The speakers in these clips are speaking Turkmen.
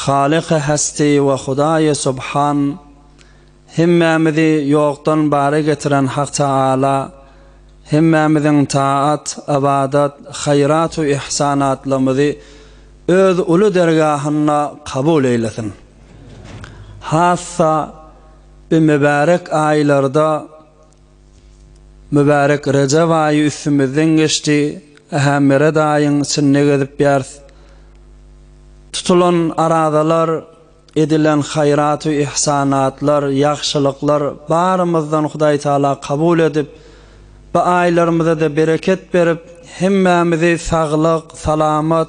Halyky Hesti we Hudaýy Subhan, hemmämizi ýokdan bara getiren Hak Tagala hemmämiziň taat, ybadat, haýrat we ihsanatlarymyzy Öz uly dergahynda kabul eýlesin. Hassa bu mübärek aýlarda Mübärek Rejep aýy üstümizden geçdi, ähä Meret aýyň içinde gezip ýäris. Tutulan arazalar, edilen haýratu ihsanatlar, ýagşylyklar barymyzdan Hudaý Taala kabul edip, bu aýlarymyza-da bereket berip, hemmämizi saglyk, salamat,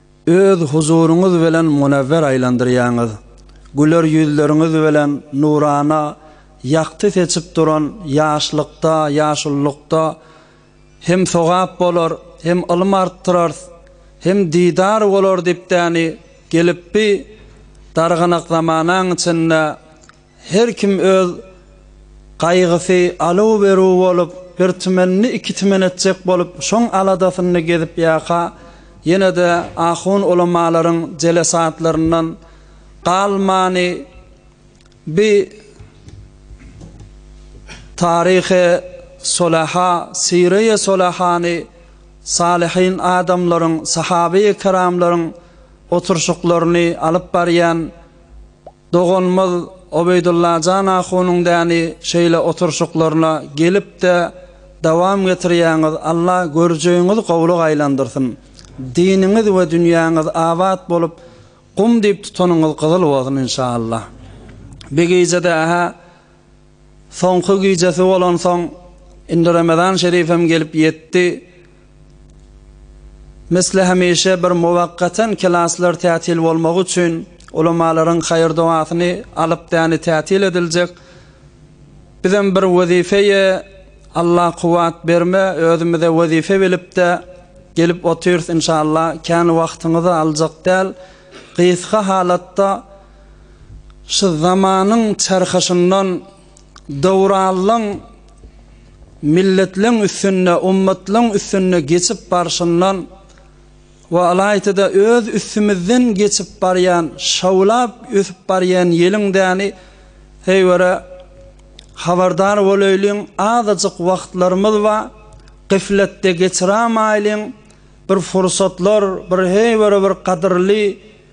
Öz huzuryňyz bilen munewwer aýlandyrýaňyz. Güler ýüzleriňiz bilen nurana ýagty seçip duran ýaşlykda, ýaşullykda hem sogap bolar, hem ylym artdyrars, hem didar bolar dipdäni gelip bi darganak zamanaň içinde Her kim öz gaýgysy aluw-beruw bolup, bir tümenini iki tümen etjek bolup, şoň aladasynda gezip ýaka, ýene-de ahun-ulamalaryň jelesatlaryndan galmany bi taryhy solaha, syreýe solahany, salyhyn adamlaryň, sahabyýkiramlaryň oturşyklaryny alyp barýan, Doganymyz Obeýdullajan ahunyň däni şeýle oturşyklaryna gelipde dowam getirýäňiz Alla görjegiňiz gowlyga aýlandyrsyn diniňiz we dünýäňiz abat bolup gum diýip tutanyňyz gyzyl bolsun inşallah bi gijede ähä Soňky gijesi bolansoň, indi Remezan şerifem gelip ýetdi. Misli hemişe bir muwakkaten klaslar tätil bolmagy üçin ulamalaryň haýyr-dogasyny alyp däni tätil ediljek. Bizem bir wezipeye Allah kuwwat berme özümize wezipe bilipde gelip otyrys inşallah kän wagtyňyzy aljak däl gysga halatda Şu zamanyň çarhyşyndan döwranlaň milletleň üstünde, ummatlaň üstünde geçip barşyndan we alaýta-da öz üstümizden geçip barýan, şawlap ösüp barýan ýeliň däni heýwere habardar bolaýlyň, azajyk wagtlarymyz ba, gyflatda geçiramaýlyň, bir fursatlar, bir heýwere bir gadyrly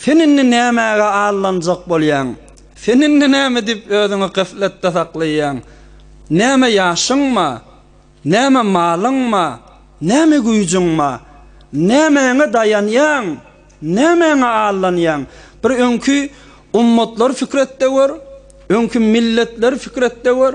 Sen indi nämäge aldanjak bolýaň? Sen indi näme diýip özüňi gafletde saklaýaň? Näme ýaşyňmy? Näme malyňmy? Näme güýjüňmi? Nämäňe daýanýaň? Nämäňe aldanýaň? Bir öňki ummatlary pikir etde gör, öňki milletleri pikir etde gör.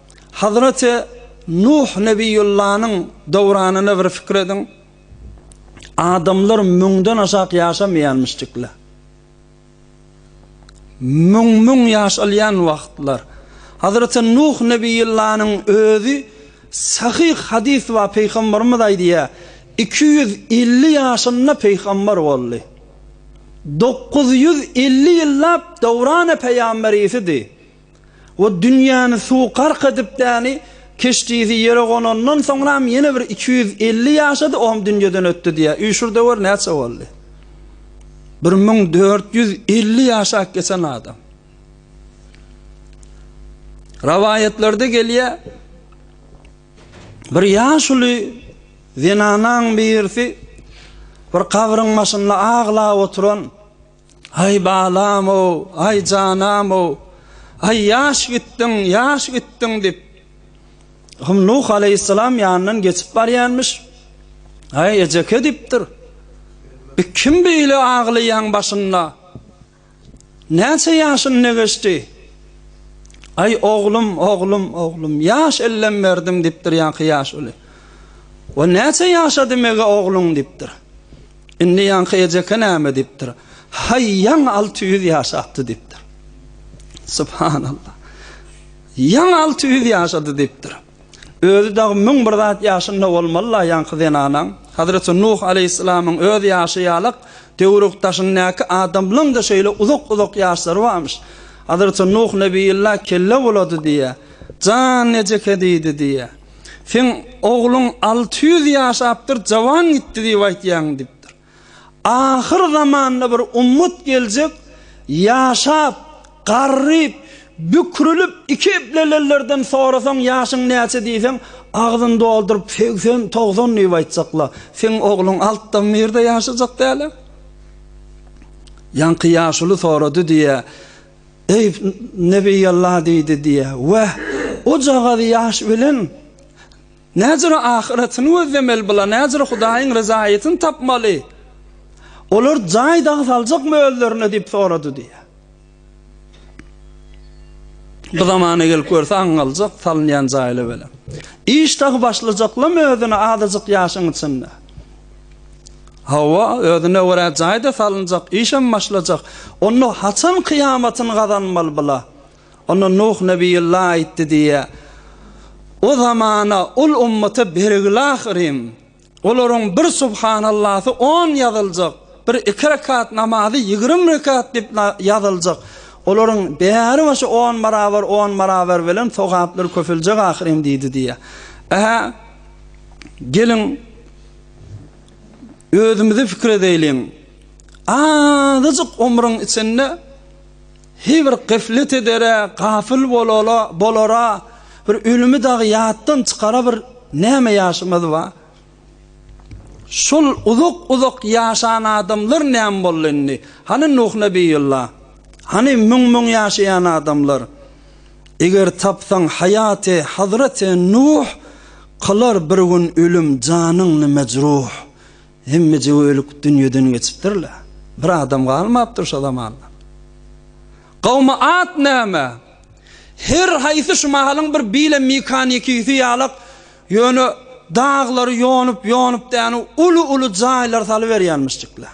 Hazreti Nuh Nebiýullanyň döwranyny bir pikir ediň. Adamlar müňden aşak ýaşamaýanmyşdykla. Müň-müň ýaş alýan wagtlar. Hazreti Nuh Nebiýullanyň özi sahyh hadys bar, Pygamberimiz aýdýar, iki ýüz elli ýaşynda pygamber boldy. Dokuz ýüz elli ýyllap döwrany peýamberysidi. we dünýäni suw gark edip däni keşdisi ýere gonandan soňram ýene bir iki ýüz elli ýaşady ohm dünýeden ötdi diýýär üýşür döwer näçe boldy bir müň dört ýüz elli ýaşap geçen adam Rawaýatlarda gelýär bir ýaşuly zenanaň birisi bir kabryň başynda aglap oturan Aý balam-ow, aý janam-ow, aý ýaş gitdiň, ýaş gitdiň diýip, Hym Nuh aleýhissalam ýanyndan geçip barýarmyş. Aý ejeke diýipdir. Bi kim beýle aglaýaň başynda? Näçe ýaşyn ne geçdi? Aý oglum, oglum, oglum, ýaş ellem berdim diýipdir ýaňky ýaş uly. O näçe ýaşady mege ogluň diýipdir. Indi ýaňky ejeke näme diýipdir? Haý, ýaňy alty ýüz ýaşapdy diýipdir. Subhanallah. Ýaňy alty ýüz ýaşady diýipdir. Özi dagy müň bir zat ýaşynda bolmaly-la ýaňky zenanaň. Hazreti Nuh aleýhissalamyň öz ýaşy ýalak, döwrüň daşyndaky adamlaň-da şeýle uzak-uzak ýaşlary barmyş. Hazreti Nuh nebiyullah kelle bulady diýýär. Jan ejeke diýdi diýýär. Seň ogluň alty ýüz ýaşapdyr, jawan gitdi diýip aýtýaň diýipdir. Ahyr zamanda bir ummat geljek, ýaşap, garryp, bükrilip, iki eplelerlerden sorasaň ýaşyň näçe diýseň, agzyny dolduryp segsen, togsan diýip aýtjaklar. Seň ogluň altdan birde ýaşajak däl-ä. Ýaňky ýaşuly sorady diýýär. Eý, Nebiýallah diýdi diýýär. Weh, ojagaz ýaş bilen näzire ahyretini gözlemeli bular, näzire Hudaýyň ryzaýetini tapmaly. Olar jaý dagy saljakmy özlerine diýip sorady diýýär. Bu zamana gelip görse aň galjak salynýan jaýly bilen. Iş dagy başlajaklam özüne azajyk ýaşyň içinde. Hawa, özüne görä jaý-da salynjak, işem başlajak. Onda haçan kyýamatyny gazanmaly bula? Onda Nuh nebiyullah aýtdy diýýä. O zamana ol ummata bergil ahyryn. Olaryň bir subhanallahy on ýazyljak, bir iki rekat namazy ýigrimi rekat diýip ýazyljak. Olaryň bäri başy on barabar, on barabar bilen sogaplar köpeljek ahyryn diýdi diýýä. Ähä. Geliň, özümize pikir edäýliň. Azajyk omruň içinde heý bir gaflet edere, gafyl bolala, bolara, bir ölümi dagy ýatdan çykara bir näme ýaşymyz bar? Şol uzak-uzak ýaşan adamlar näme boldy indi? Hany Nuh nebiyullah? Hany müň-müň ýaşaýan adamlar? Eger tapsaň haýaty hazreti Nuh, Kylar bir gün ölüm janyňny mejruh. Hemmeje ölüp dünýeden geçipdirler. Bir adam galmapdyr şo zamanda. Gawmy at näme? Her haýsy şu mahalyň bir bile mekanikisi ýalak ýöne daglary ýonup-ýonup däni uly-uly jaýlar salyberýänmişjikler.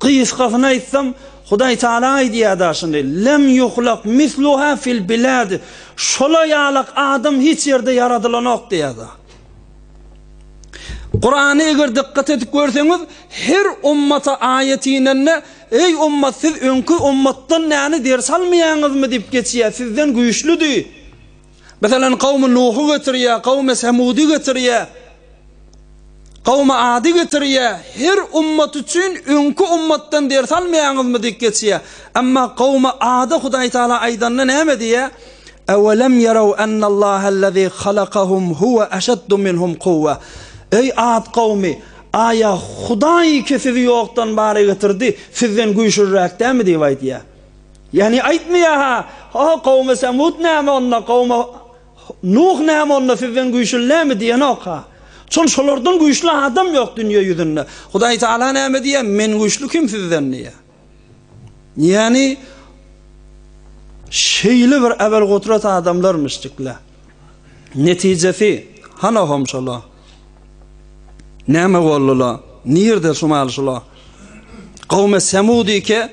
Gysgasyna aýtsam, Hudaý Tagala aýdýar da şuny, Lem ýuhlak misluha fil bilad, Şola ýalak adam hiç ýerde ýaradylanok diýýär da. Kurany eger dykgat edip görseňiz, her ummata aýat inende, Eý ummat, siz öňki ummatdan näni ders almaýaňyzmy diýip geçýär, sizden güýçlüdi. Meselem, kawmy Nuhy getirýär, kawmy Semudy getirýär, kawmy Ady getirýär, her ummat üçin öňki ummatdan ders almaýaňyzmy diýip geçýär. Emma kawmy Ada Hudaý Tagala aýdanda näme diýýär? Ewelem ýerew ennallahellezî halakahum huwe eşeddu minhum kuwwa. Eý Ad kawmy, aýa Hudaý ki sizi ýokdan bara getirdi, sizden güýçlüräk dälmi diýip aýdýar. Ýagny aýtmaýar-ha, O, kowumy Semut näme onda, kowumy Nuh näme onda, sizden güýçli näme diýenok-ha. Çünki şolardan güýçli adam ýok dünýe ýüzünde. Hudaý Tagala näme diýýär, Men güýçli kim sizden diýýär. Ýagny şeýle bir äwelgudrat adamlarmyş dikle. Netijesi, hanohom şola. Näme boldular? Nirde şumal şola? Kowumy Semut ike,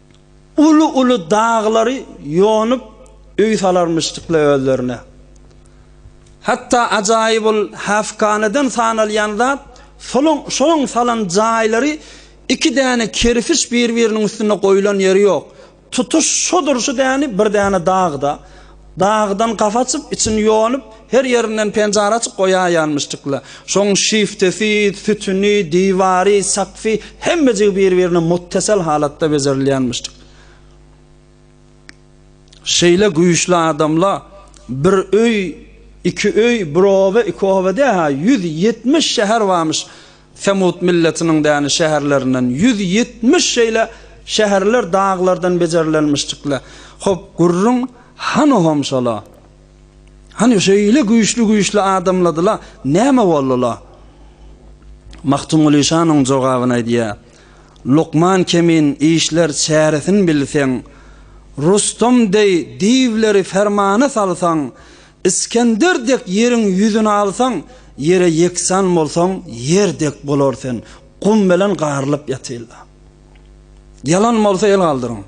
Uly-uly daglary ýonup öý salarmyşdyk-la özlerine. Hatda ajaýyp ol häfkaneden sanalýan zat, şolaň salan jaýlary iki däne kerpiç bir-biriniň üstünde goýlan ýeri ýok. Tutuş şodur-şu däni bir däne dag-da. Dagydan gap açyp, içini ýonup, her ýerinden penjara açyp goýaýýanmyşdykla. Şoň şiftesi, sütüni, diwary, sakfy hemmejigi bir-birine muttasal halatda bejerilýänmişdik. Şeýle güýçli adamla bir öý, iki öý, bir oba, iki oba dä-ha, ýüz ýetmiş şäher barmyş. Semut milletiniň däni şäherlerinden ýüz ýetmiş şeýle şäherler daglardan bejerilenmişdikle. Hop, gürrüň hany hom şola. Hany şeýle güýçli-güýçli adamladyla, näme boldy-la? Magtymguly şanyň jogabyny aýdýar. Lukman Kemin işler çäresin bilseň, Rustam deý diwleri fermana salsaň, Iskender dek ýeriň ýüzüni alsaň, ýere ýeksan bolsaň, ýer dek bolar sen, gum bilen garylyp ýatyl-da. Ýalan bolsa el galdyryň.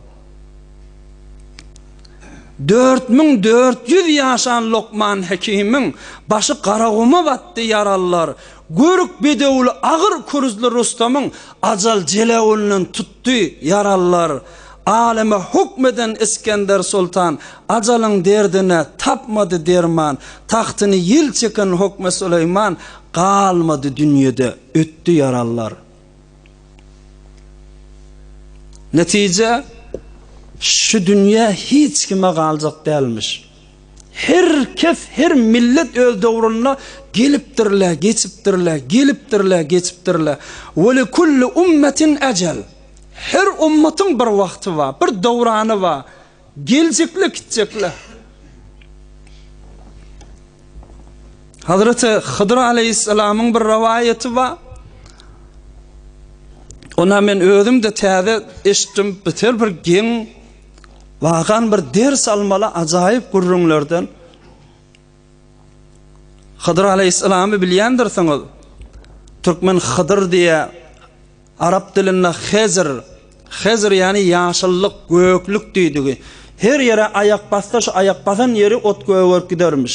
Dört müň dört ýüz ýaşan Lokman Hekimiň başy garaguma batdy, ýaralylar, görk bedewli agyr kürzli Rustamyň ajal jelewünden tut, Tutdy, ýaralylar. Aleme hukm eden Isgender soltan ajalyň derdine tapmady derman, tagtyny ýel çeken Hokme Süleýman galmady dünýede, ötdi ýaralylar. Netije, şu dünýe hiç kime galjak dälmiş. Her kes, her millet öz döwründe gelipdir-le, geçipdir-le, gelipdir-le, geçipdir-le. We li kulli ummetin ejel. Her ummatyň bir wagty bar, bir döwrany bar. Geljek-le, gitjek-le. Hazreti Hydyr aleýhissalamyň bir rowaýaty bar. Ona men özüm-de täze eşitdim, biter bir geň Wagan bir ders almaly ajaýyp gürrüňlerden Hydyr aleýhissalamy bilýändirsiňiz. Türkmen Hydyr diýýä. Arap dilinde Hezir. Hezir ýany ýaşyllyk, göklük diýdigi. Her ýere aýak bassa şu aýak basan ýeri ot gögerip gidermiş.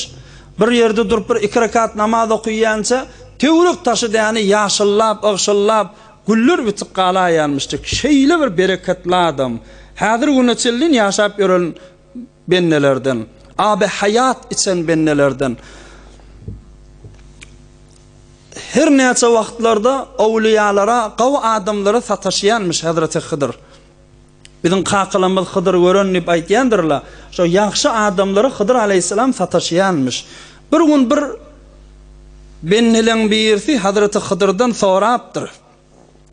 Bir ýerde durup bir iki rekat namaz okyýança töwrek taşy däni ýaşyllap, ygşyllap, Güller bitip galaýýarmyşdyk. Şeýle bir bereketli adam. Häzir güne çenlin ýaşap ýören bendelerden. Aby haýat içen bendelerden. Her näçe wagtlarda owliýalara, gawy adamlara sataşýanmyş Hezreti Hydyr. Biziň kakalarymyz Hydyry gören diýip aýtýandyrlar. Şo ýagşy adamlara Hydyr alaýhyssalam sataşýanmyş. Bir gün bir bendeleň birisi Hazreti Hydyrdan sorapdyr.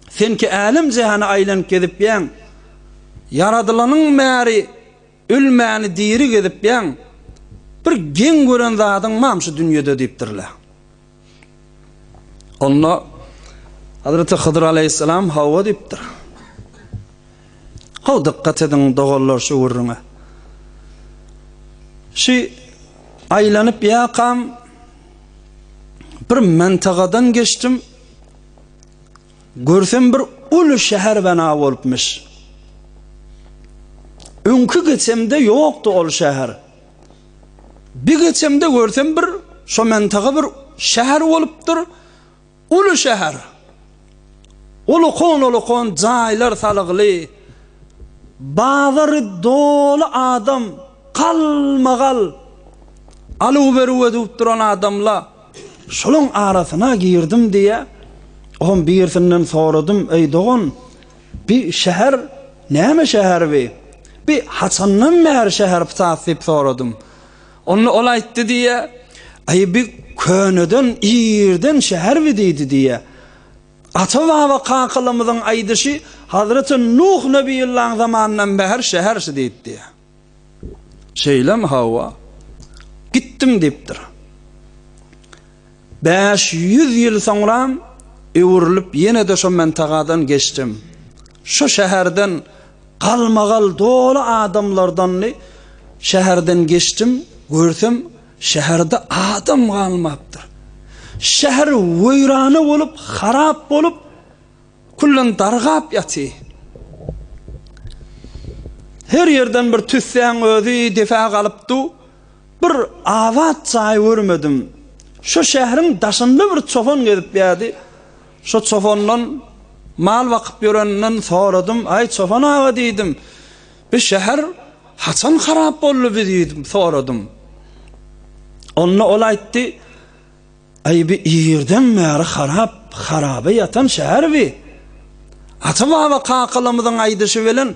Sen ki älem-jähany aýlanyp gezipýäň. Ýaradylanyň bäri Ölmäni diri gezipýäň, bir geň gören zadyň bam şu dünýede diýipdirler. Onda Hazreti Hydyr aleýhissalam hawa diýipdir. Haw dykgat ediň doganlar şu gürrüňe. Şu aýlanyp ýakam bir mentagadan geçdim. Görsem bir uly şäher bena bolupmyş. Öňki geçemde ýokdy ol şäher. Bir geçemde görsem bir şo mentaga bir şäher bolupdyr. Uly şäher. Ulukon-ulukon jaýlar salgly. Bazary doly adam, galma-gal. Aluw-beruw edüp duran adamla. Şolaň arasyna girdim diýýä. Oňam birisinden soradym, Eý, dogan, bi şäher näme şäher bi? Bi haçandan bäri şäher ptat diýip soradym. Onda ol aýtdy diýýä, Eý, bi köneden, irden şäher bi diýdi diýýä. Ata-baba kakalarymyzyň aýdyşy, Hazreti Nuh nebiyullaň zamanyndan bäher şäher şu diýdi diýýä. Şeýlemi, hawa, gitdim diýipdir. Bäş ýüz ýyl soňram öwrülip ýene-de şo mantagadan geçdim. Şo şäherden galmagal doly adamlardandy. Şäherden geçdim, görsem şäherde adam galmapdyr. Şäher weýrana bolup, harap bolup, Küllen dargap ýaty. Her ýerden bir tüssäň özi depä galypdy. Bir abat jaý görmedim. Şo şähriň daşynda bir çopan gezip ýärdi. Şo çopandan mal bakyp ýöreninden soradym. Aý çopan aga diýdim. Bi şäher haçan harap boldy bi diýdim, soradym. Onda ol aýtdy. Aý bi irden bäri harap harabe ýatan şäher bi. Ata baba kakalamyzyň aýdyşy bilen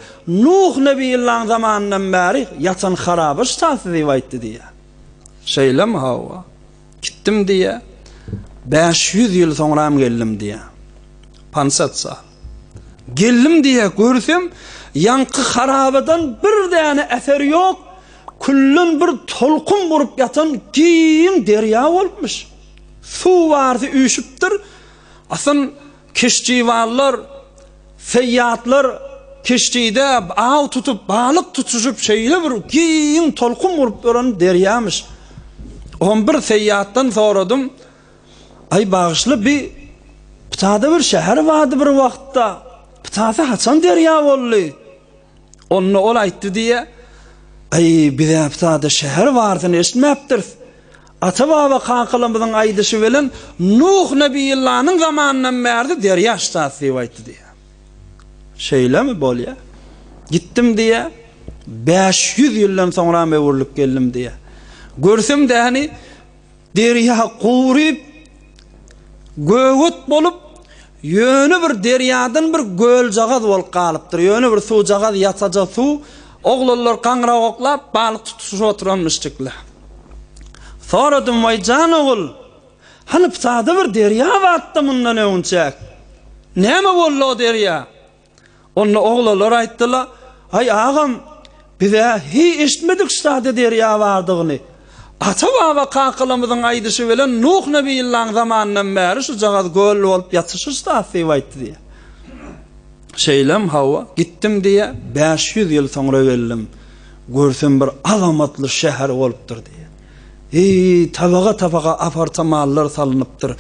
Nuh nebiyullaň zamanyndan bäri ýatan harabe ştasy diýip aýtdy diýýär. Şeýlemi hawa. Gitdim diýýär. Bäş ýüz ýyl soňram geldim diýýär. Pansat sal. Geldim diýä görsem, ýaňky harabadan bir däne äser ýok, külden bir tolkun gurup ýatan giň derýa bolupmyş. Suw barsy üýşüpdir, asyn keştiwallar, seýýatlar keştide aw tutup, balyk tutuşyp şeýle bir giň tolkun gurup duran derýamyş. Onbir seýýatdan soradym, Aý bagyşla bi pytada bir şäher bardy bir wagtda pytasy haçan derýa boldy onda ol aýtdy diýýä aý bizä pytada şäher bardyny eşitmäpdiris ata baba kakalamyzyň aýdyşy bilen nuh nebiyillanyň zamanyndan bärde derýa ştat diýip aýtdy diýýä şeýlemi bolýa gitdim diýýä bäş ýüz ýyldan soňram öwürlip geldim diýýä görsem däni Derýa guryp, göwut bolup, ýöne bir derýadan bir göljagaz bolup galypdyr, ýöne bir suwjagaz ýasaja suw, oglanlar gaňragoklap, balyk tutuşyp oturanmyşjyklar. Soradym, Waý, jan ogul, hany psada bir derýa bardy-da mundan öňünçäk. Näme boldy o derýa? Onda oglanlar aýtdylar, Aý, agam, biz-ä hiý eşitmedik şu sada derýa bardygyny. Ata-baba kakalamyzyň aýdyşy bilen Nuh nebiyllaň zamanyndan bäri şujagaz göl bolup ýatyşyş zat diýip aýtdy diýýär. Şeýlem, hawa, gitdim diýýär, bäş ýüz ýyl soňra geldim. Görsem bir azamatly şäher bolupdyr diýýär. Hiý, tabaga-tabaga apartamanlar salnypdyr.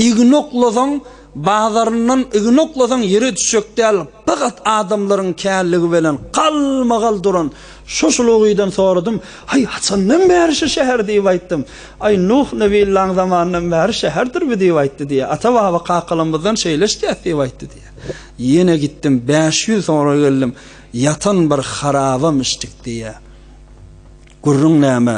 Ignoklasaň, Bazaryndan yzyny oklasaň ýere düşjek däl pagat adamlaryň källigi belen galmagal duran şo şulugydan soradym, Aý haçandan bäri şu şäher diýip aýtdym. Aý Nuh nebillaň zamanyndan bäri şäherdir bu diýip aýtdy diýýär. Ata baba kakalamyzdan şeýle eşdýäs diýip aýtdy diýýär. Ýene gitdim bäş ýüz soňra geldim ýatan bir harabam içdik diýýär. Gürrüň näme?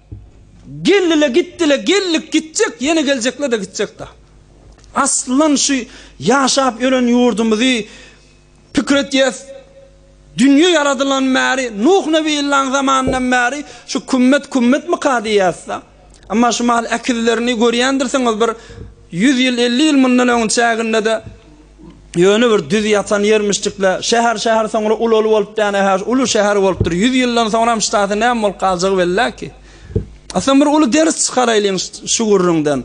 Geldiler gitdiler geldik gitjek ýene geljekler-de gitjek-de. Aslan şu ýaşap ýören ýurdumyzy pikir etýäs dünýe ýaradylan bäri Nuh nebi illaň zamanyndan bäri şu kümmet kümmetmika diýýäs-de. Emma şu mahal äkizlerini görýändirsiňiz bir ýüz ýyl elli ýyl mundan öňüň çäginde-de Ýöne bir düz ýatan ýermişdik-le. Şäher-şäher soňra ulaly bolup däne-hä, uly şäher bolupdyr. Ýüz ýyldan soňram ştasy näme bolup galjagy bellä ki. Aslym bir uly ders çykaraýlyň şu gürrüňden.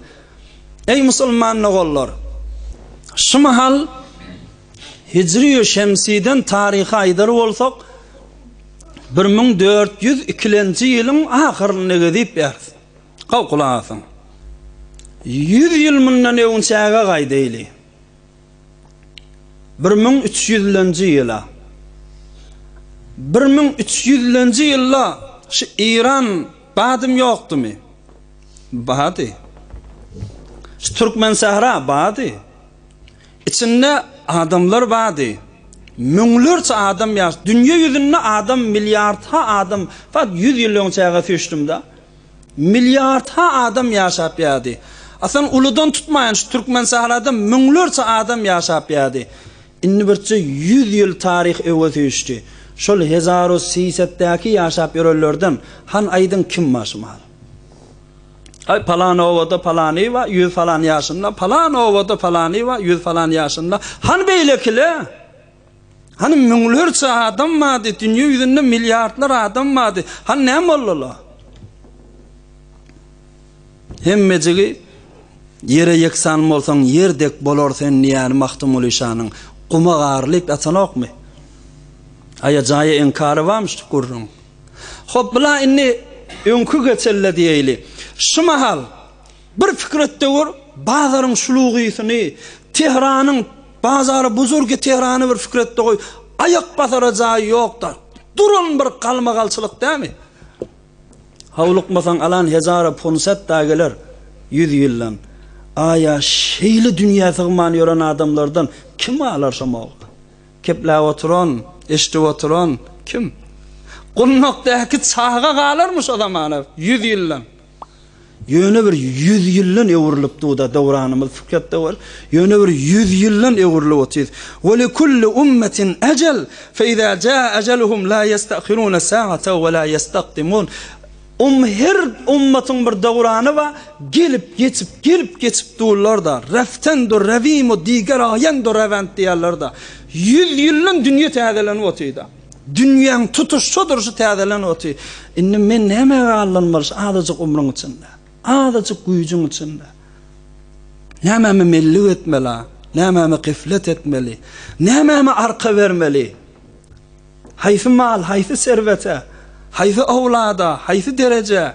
Eý musulman ogallar! Şu mahal hijri-ýü şemsiden taryhy aýdar bolsak, bir müň dört ýüz ikilenji ýylyň ahyrynda gezip ýörüs. Gaw, gulak asyň. Ýüz ýyl mundan öwünçäge gaýdaýly. Bir müň üç ýüzlenji ýyla. Bir müň üç ýüzlenji ýylda şu Eýran badym ýokdumy? Bady. Şu Türkmensähra bady. Içinde adamlar bady. Müňlerçe adam ýaş. Dünýe ýüzünde adam, milliardha adam. Fakt ýüz ýyl öňçäge süýşdüm-de. Milliardha adam ýaşap ýady. Asan uludan tutmaýan şu türkmen sahrada müňlerçe adam ýaşap ýady. Indi birçe ýüz ýyl taryh öwez süýşdi. Şol hezaru siýsetdäki ýaşap ýörenlerden han aýdyň kim başymar? Aý palan obada palany bar, ýüz falan ýaşynda, palan obada palany bar, ýüz falan ýaşynda. Han beýlekile? Hany müňlerçe adam bardy, dünýe ýüzünde milliardlar adam bardy. Hany näme boldular? Hemmejigi ýere ýeksan bolsaň, ýer dek bolar sen diýýän Magtymguly şanyň guma garylyp ýatanokmy? Aýa-jaýa inkary barmy şu gürrüň? Hop, bula indi öňki geçelle diýeýli. Şu mahal Bir pikir et-de gör, bazaryň şulugysyny, Tehranyň bazary buzurgi Tehrany bir pikir et-de goý, aýak basara jaýy ýok-da, duran bir galmagalçylyk dämi? Howlukmasaň alan hezara pursat-da geler, ýüz ýyldan. Aý-a, şeýle dünýä sygman ýören adamlardan kim alar şo mogly? Kepläp oturan, eşidip oturan kim? Gundakdaky çaga galarmy şo zamana, ýüz ýyldan? Ýöne bir ýüz ýyldan öwrülip duda dowranymyz fikret döwür ýöne bir ýüz ýyldan öwrülip otuz we li kulli ummetin ejel fe iza jaa ejeluhum la yestahiruna saata we la yestakdimun um her ummatyň bir dowrany bar gelip geçip gelip geçip durlar da reften dur revimo diger aýan dur revent diýerler da ýüz ýyldan dünýe täzelenip otuz da. Dünýäň tutuş şu durşy täzelen oty. Indi men nämäge aldanmaly şu azajyk umruň içinde? Azajyk güýjüň içinde? Nämäme mellik etmeli-a? Nämäme geflet etmeli? Nämäme arka bermeli? Haýsy mal, haýsy serwete, haýsy owlada, haýsy derejä?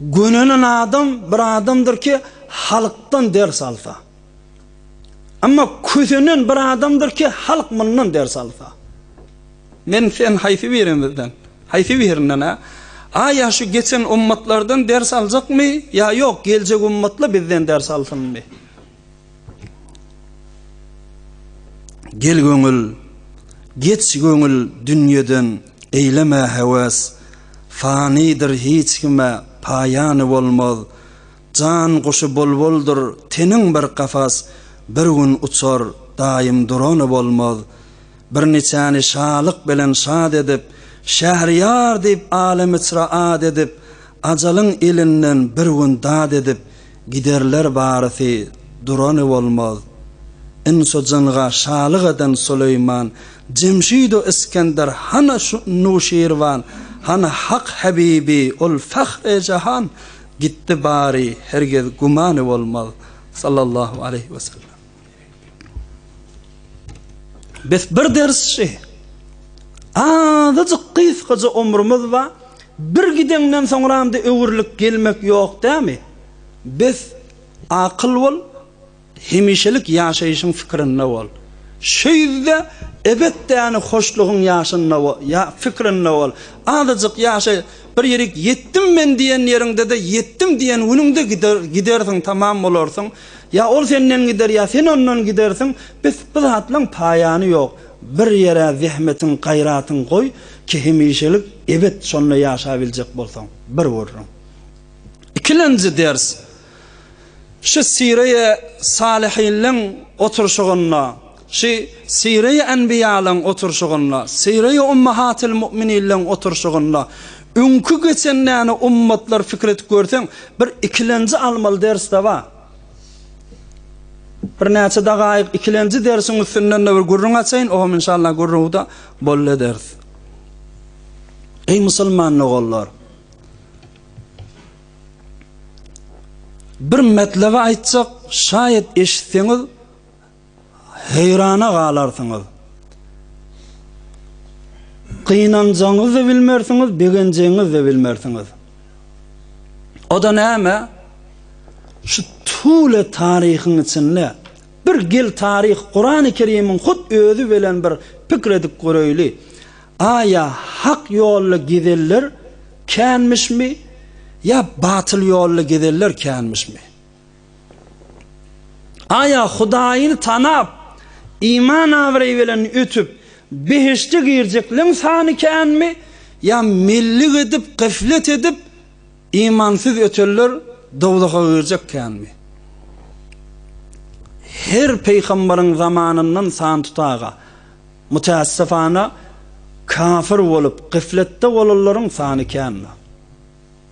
Gönenen adam bir adamdyr ki, halkdan ders alsa. Emma kösenen bir adamdyr ki, halk mundan ders alsa. Men sen haýsy birimizden? Haýsy birinden-ä? A ýa şu geçen ummatlardan ders aljakmy, ýa ýok, geljek ummatla bizden ders alsynmy? Gel göňül, geç göňül dünýeden eýleme hewas, Fanydyr hiç kime paýany bolmaz, Jan guşy bulbuldyr teniň bir kafas, Bir gün uçar daýym durany bolmaz. Bir niçäni şalyk bilen şat edip, Şähriyar diýip alemiçra at edip, Ajalyň elinden bir gün dat edip, Giderler barysy durany bolmaz. Inso jynga şalyk eden Suleýman Jemşido Isgender hana şu Nuşirwan hana Hak Habibi ol Fahre Jahan gitdi bary hergiz gümany bolmaz. Sallallahu aleýhi we sellem. Bes bir dersçi. Azajyk gysgaja omrumuz ba, bir gideňden soňramda öwrülip gelmek ýok dämi? Bes akyl bol, hemişelik ýaşaýşyň fikirinde bol. Şo ýüzde ebet däni hoşlugyň ýaşynda bol, ýa fikirinde bol. Azajyk ýaşaý, bir ýerik ýetdim men diýen ýeriňde-de ýetdim diýen günüňde gider, gidersiň tamam bolarsyň. Ýa ol senden gider, ýa sen ondan gidersiň, bes, bu zatlaň paýany ýok. Bir ýere zähmetiň, gaýratyň goý, ki hemişelik, ebet şonda ýaşabiljek bolsaň. Bir gürrüň. Ikilenji ders. Şu Syryýa Salyhinleň oturşygynda. Şy Syreý Enbiýalyň oturşygynda, Syreý Ummahatyl Mu'mininleň oturşygynda, öňki geçen näne ummatlar pikir edip görseň, bir ikilenji almaly dersde bar. Bir näçe dagaýyk ikilenji dersiň üstünden-de bir gürrüň açaýyn, ogam inşallah gürrüňi-de bol ederis. Eý musulman doganlar! Bir metlebi aýtjak, şaýat eşitseňiz, Heýrana galarsyňyz. Gynanjagyňyzy-da bilmersiňiz, begenjegiňizi-de bilmersiňiz. O-da näme? Şu tüwli taryhyň içinde bir gel taryh Kurany Kerimiň hut özi bilen bir pikir edip göreýli. Aýa hak ýolda gezenler känmişmi ýa batyl ýolda gezenler känmişmi? Aýa Hudaýyny tanap, iman-abraý bilen ötüp, behişde girjekleň sany känmi, ýa mellik edip, gyflet edip, imansyz ötenler dowzaha girjek känmi? Her pygamberiň zamanyndan san tutaga, mütässifana, kafir bolup, gyfletde bolanlaryň sany känmi?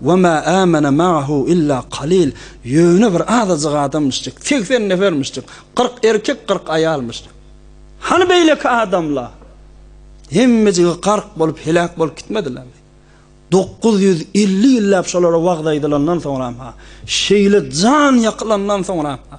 We ma amene ma'ahu illa qalil. Ýöne bir azajyk adamyşjyk, segsen nefermişjik, kyrk erkek, kyrk aýalmyşjyk. Hany beýleki adamlar? Hemmejigi gark bolup, heläk bolup gitmedilermi? Dokuz ýüz elli ýyllap şolara wagyz aýdylandan soňram-ha, şeýle jan ýakylandan soňram-ha.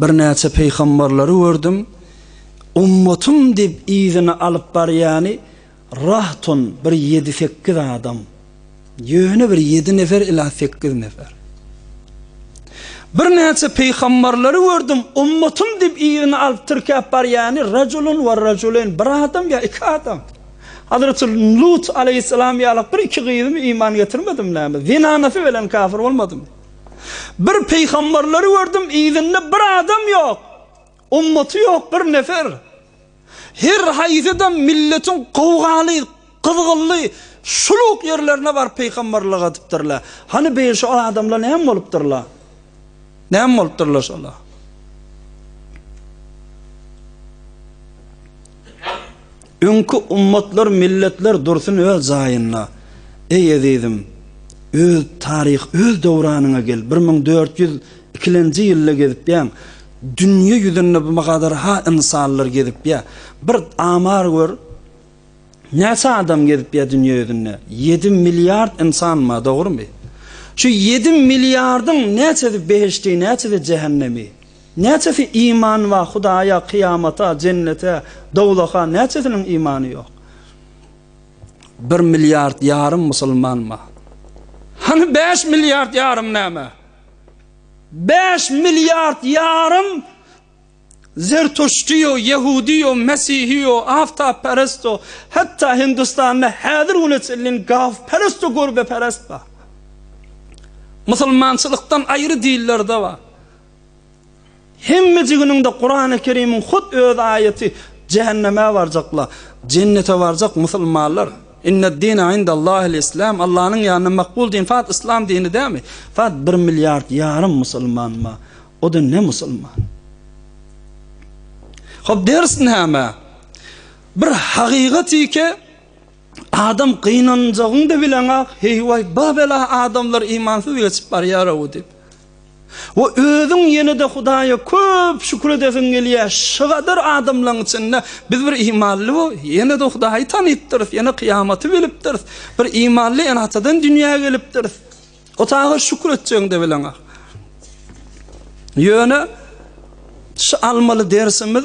Birnäçe pygambarlary gördüm. Ummatym diýip yzyna alyp barýany rahton bir ýedi-sekiz adam. Ýöne bir ýedi nefer ila sekiz nefer. Birnäçe pygambarlary gördüm. Ummatym diýip yzyna alyp tirkäp barýany rajulun we rajulen bir adam ýa iki adam. Hazreti Lut aleýhissalam ýalak bir-iki gyzymy iman getirmedim näme? Zenanasy belen kafir bolmadymy? Bir pygamberleri gördüm, yzynda bir adam ýok, ummaty ýok bir nefer. Her haýsy-da milletiň gowgaly, gyzgynly, şuluk ýerlerine baryp pygamberlik edipdirler. Hany beýle şu adamlar näme bolupdyrlar? Näme bolupdyrlar şolar? Öňki ummatlar milletler dursun öz jaýynda eý ezizim öz taryh öz döwranyňa gel bir müň dört ýüz ikilenji ýylda gezipýäň dünýe ýüzünde bu kadar ha ynsanlar gezipýä bir amar gör näçe adam gezipýä dünýe ýüzünde ýedi milliard ynsan bar dogrymy şu ýedi milliardyň näçesi behişdi näçesi jähennemi. Näçesi iman bar Hudaýa, kyýamata, jennete, dowzaha, näçesiniň imany ýok? Bir milliard ýarym musulman bar. Hany bäş milliard ýarym näme? Bäş milliard ýarym zertuştiýo, ýehudiýo, mesihiýo, awtapperesto, hatda Hindistanda häzir güne çenlin gawperesto görbeperest bar. Musulmançylykdan aýry dillerde bar. Hemmejiginiňde Kurany Kerimiň hut öz aýaty jähenneme barjakla jennete barjak musulmanlar Inned dine indallahil islam Allanyň ýanynda makbul din fat islam dini dämi fat bir milliard ýarym musulman ma o da ne musulman Hop ders näme bir hakykat ike adam gynanjagyňda bileňak heýwaý babela adamlar imansyz geçip barýar o diýip we özüň ýene-de Hudaýa köp şükür edesiň gelýär. Şygadar adamlaryň içinde biz bir imanly we ýene-de Hudaýy tanypdyrys, ýene kyýamaty bilipdiris, bir imanly ene-atadan dünýä gelipdiris. Hudaýa şükür etjegiňde bileňä. Ýöne şu almaly dersimiz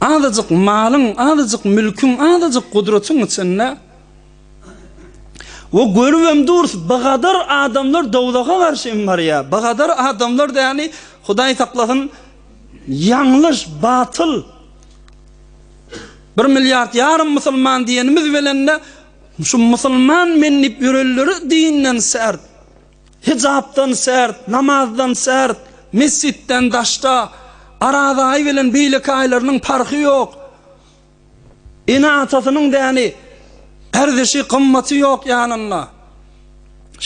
Azajyk malyň, azajyk mülküň, azajyk gudratyň içinde we görübem durus, bigadar adamlar dowzaha garşy hem barýar. Bigadar adamlar däni, Hudaý saklasyn, ýalňyş, batyl. Bir milliard ýarym musulman diýenimiz bilen-de, şu musulman men diýip ýörenleri dinden särt. Hijapdan sert, namazdan sert, mesjitden daşda, Araz aýy bilen beýleki aýlarynyň parhy ýok. Ene-atasynyň däni, erzişi, gymmaty ýok ýanynda.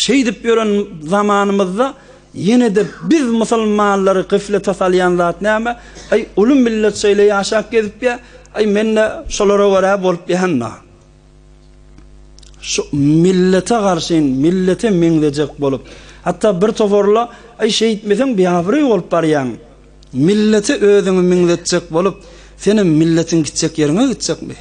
Şeýdip ýören zamanymyzda ýene-de biz musulmanlary gyflete salýan zat näme? Aý, uly millet şeýle ýaşap gezipýä, aý men-de şolara görä bolupýan-da. Şu millete garşyn, millete meňzejek bolup, hatda bir toparla, Aý, şeýtmeseň biabraý bolup barýaň. Millete özüňi meňzetjek bolup, senem milletiň gitjek ýeriňe gitjekmi?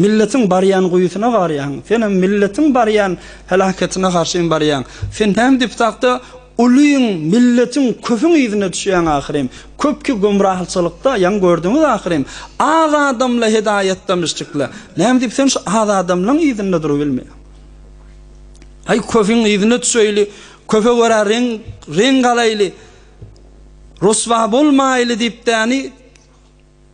Milletiň barýan guýusyna barýaň, senem milletiň barýan heläketine garşyn barýaň. Sen näme diptakda Ulyň, milletiň, köpüň yzyna düşýäň ahyrym. Köpki gümrahçylykda, ýaňy gördüňiz ahyrym. Az adamla hedaýatda myşçikle. Näme diýip sen şu az adamlaň yzynda durubilme. Aý köpüň yzyna düşeýli, köpe görä reň, reň galaýly, ryswa bolmaýly diýip däni.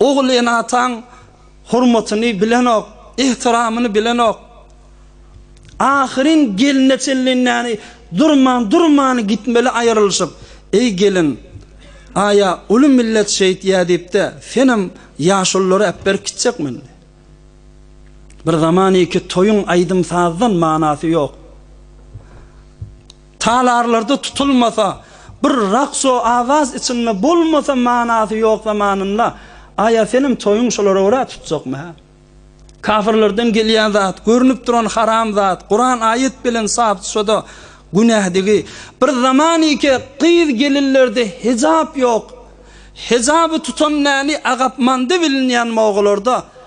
Ogul-enataň hormatyny bilenok, ehtiramyny bilenok. Ahyryn gelne çenli näni durman, durman gitmeli aýrylyşyp. Eý gelin, aýa uly millet şeýtýä diýip-de, senem ýaşululary äpberip gitjekmindi. Bir zamaniki toýuň aýdym-sazdan manasy ýok. Talarlarda tutulmasa, bir raks-u awaz içinde bolmasa manasy ýok zamanynda, aý-a senem toýuň şolara görä tutjakmy hä? Kafirlerden gelýän zat, görnüp duran haram zat, Kuran aýat bilen sap düşede günädigi. Bir zaman ike gyz-gelinlerde hejap ýok. Hejaby tutan näni agapmanda bilinýän mogalarda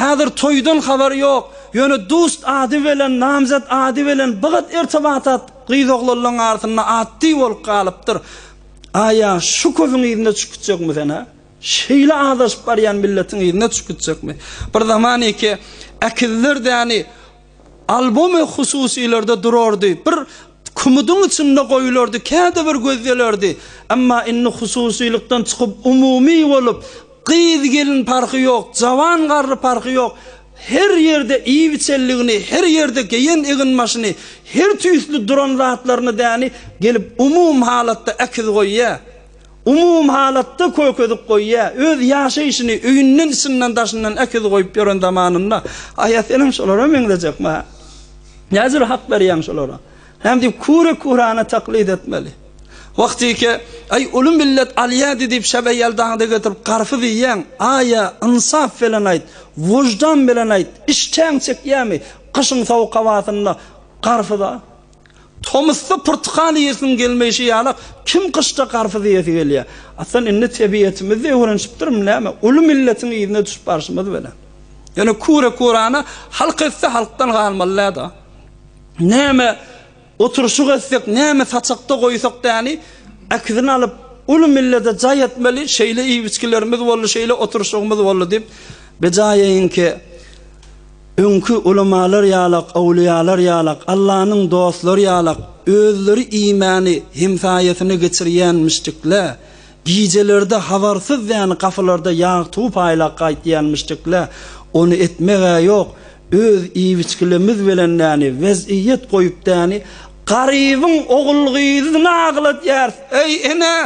Häzir toýdan habar ýok, ýöne dust ady bilen, namzet ady bilen bigat irtibatat gyz-oglanlaň arasynda atdy bolup galypdyr. Aý-a, şu köpüň yzyna çykyp gitjekmi sen-ä? Şeýle azaşyp barýan milletiň yzyna çykyp gitjekmi? Bir zaman iki äkizler däni Albomy hususylarda durardy, bir kumudyň içinde goýulardy, käte bir gözdelerdi. Emma indi hususylykdan çykyp, umumy bolup, gyz-gelin parhy ýok, jawan-garry parhy ýok, her ýerde iýibiçenligini, her ýerde geýen eginbaşyny, her tüýsli duran zatlaryny däni gelip umum halatda äkiz goýýar. Umumyhalatda kökezik goýýar. Öz ýaşaýşyny öýünden, içinden, daşyndan äkiz goýup ýören zamanynda, Aýa senem şolara meňzejekmi, hä? Näjüre hak berýäň şolara? Näme diýip kure-kurany taklyt etmeli? Wahtyke, Aý, uly millet alýady diýip şäbe ýeldaňda getirip garpyz iýýäň, Aýa, ynsap bilen aýt, wyždan bilen aýt, işdäň çekýämi, gyşyň sowuk howasynda garpyz-a? Tomusda pyrtykal iýesiň gelmeýşi ýalak, kim gyşda garpyz iýesi gelýär? Aslynda indi tebiýetimiz-de öwrenişipdirmi näme? Uly milletiň yzyna düşüp barşymyz bilen. Ýöne küre-kürana halk etse halkdan galmaly-dä-da. Näme oturyşyk etsek, näme saçakda goýsak däni, äkidini alyp, uly millete jaý etmeli, şeýle iýip-içgilerimiz boldy, şeýle oturyşygymyz boldy diýip, bejaýaýyňky. Öňki ulamalar ýalak, owliýalar ýalak, Allanyň dostlary ýalak, özleri iýmäni, hemsaýasyna geçirýänmişdikle, gijelerde habarsyz dän gapylarda ýag tuwup aýlap gaýtýanmyşdikle, ony etmek-ä ýok, öz iýibiçgilimiz bilen däni, wez'iýet goýup däni, garybyň ogul-gyzyny agladýarys, eý, ene!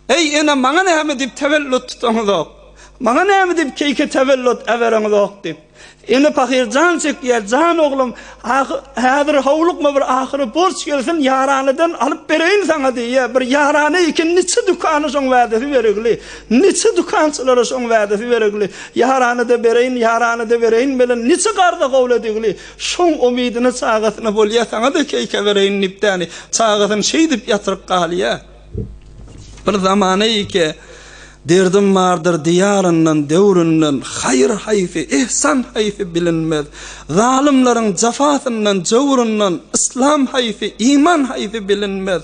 Eý, ene, maňa näme diýip täwellüt tutaňyzok? Maňa näme diýip keýke täwellüt äbereňizok? diýip, ene pahyr jan çekýär, Jan oglum, ahy, häzir howlukma, bir ahyry borç gelsin, ýaranydan alyp bereýin saňa diýýär. Bir ýarany eken, niçe dükana şoň wädesi beregli, niçe dükançylara şoň wädesi beregli, ýarany-da bereýin, ýarany-da bereýin bilen niçe garza gowladigli, şoň umydyna, çagasyna bolýar, saňa-da keýke bereýin diýip, däni, çagasyny şeýdip ýatyryp galýar. Bir zamana ýeke Derdim bardyr diýaryndan, döwründen, Haýyr haýsy, ihsan haýsy bilinmez. Zalymlaryň jafasyndan, jöwrundan, Yslam haýsy, iman haýsy bilinmez.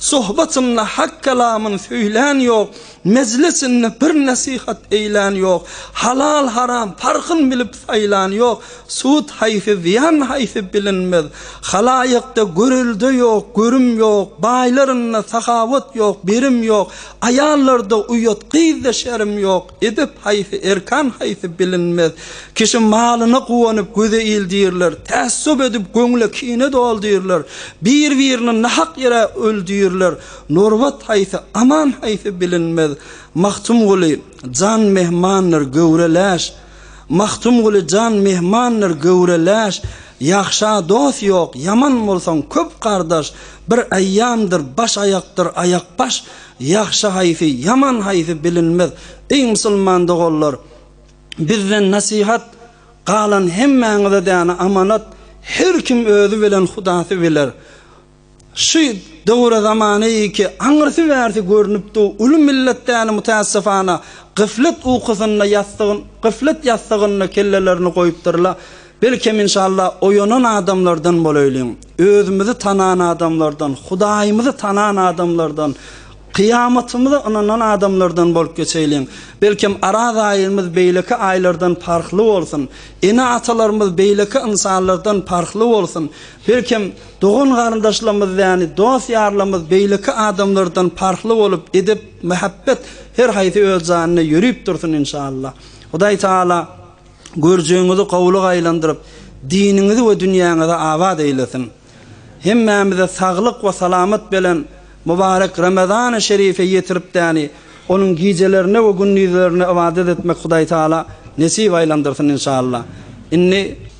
Sohbatynda hak kelamyn söýlän ýok, Mejlisinde bir nesihat eýlän ýok, Halal-haram parhyn bilip saýlan ýok, Sud haýsy, zyýan haýsy bilinmez. Halaýykda görelde ýok, görüm ýok, baýlarynda sahawat ýok, berim ýok, aýallarda uýat, gyzda şerim ýok. Edep haýsy, erkan haýsy bilinmez. Kişi malyna guwanyp, göze ildirler, tässup edip, göňle kine doldyrlar, bir-birini nahak ýere öldürler. Nurbat haýsy, aman haýsy bilinmez. Magtymguly, Jan mehmandyr, göwre läş. Magtymguly jan mehmandyr göwre läş, Ýagşa dost ýok, ýaman bolsaň köp gardaş, Bir aýýamdyr baş aýakdyr aýak baş, Ýagşy haýsy, ýaman haýsy bilinmez. Eý musulman doganlar, bizden nasihat, Galan hemmäňize däne amanat, Her kim özi bilen hudasy biler. Şu döwüre zamany ki aňyrsy bärsi görnüp du uly millet däni mütässifana gyflet ukusynda ýassygyn gyflet ýassygynda kellelerini goýupdyrla belkem inşallah oýanan adamlardan bolaýlyň özümizi tanan adamlardan hudaýymyzy tanan adamlardan kyýamatymyza ynanan adamlardan bolup geçeýliň belkem araz aýymyz beýleki aýlardan parhly bolsun ene atalarymyz beýleki ynsanlardan parhly bolsun belkem Dogan-garyndaşlarymyz ýaly dost-ýarlarymyz beýleki adamlardan parhly bolup, edep, mähebbet her haýsy öz janyna ýörüp dursun inşallah. Hudaý Tagala görjegiňizi gowulyga aýlandyryp, diniňizi we dünýäňizi abat eýlesin. Hemmämize saglyk we salamat belen mubarek Ramazany şerife ýetirip däni onuň gijelerine we gündizlerine ybadat etmek Hudaý Tagala nesip aýlandyrsyn inşallah. Indi.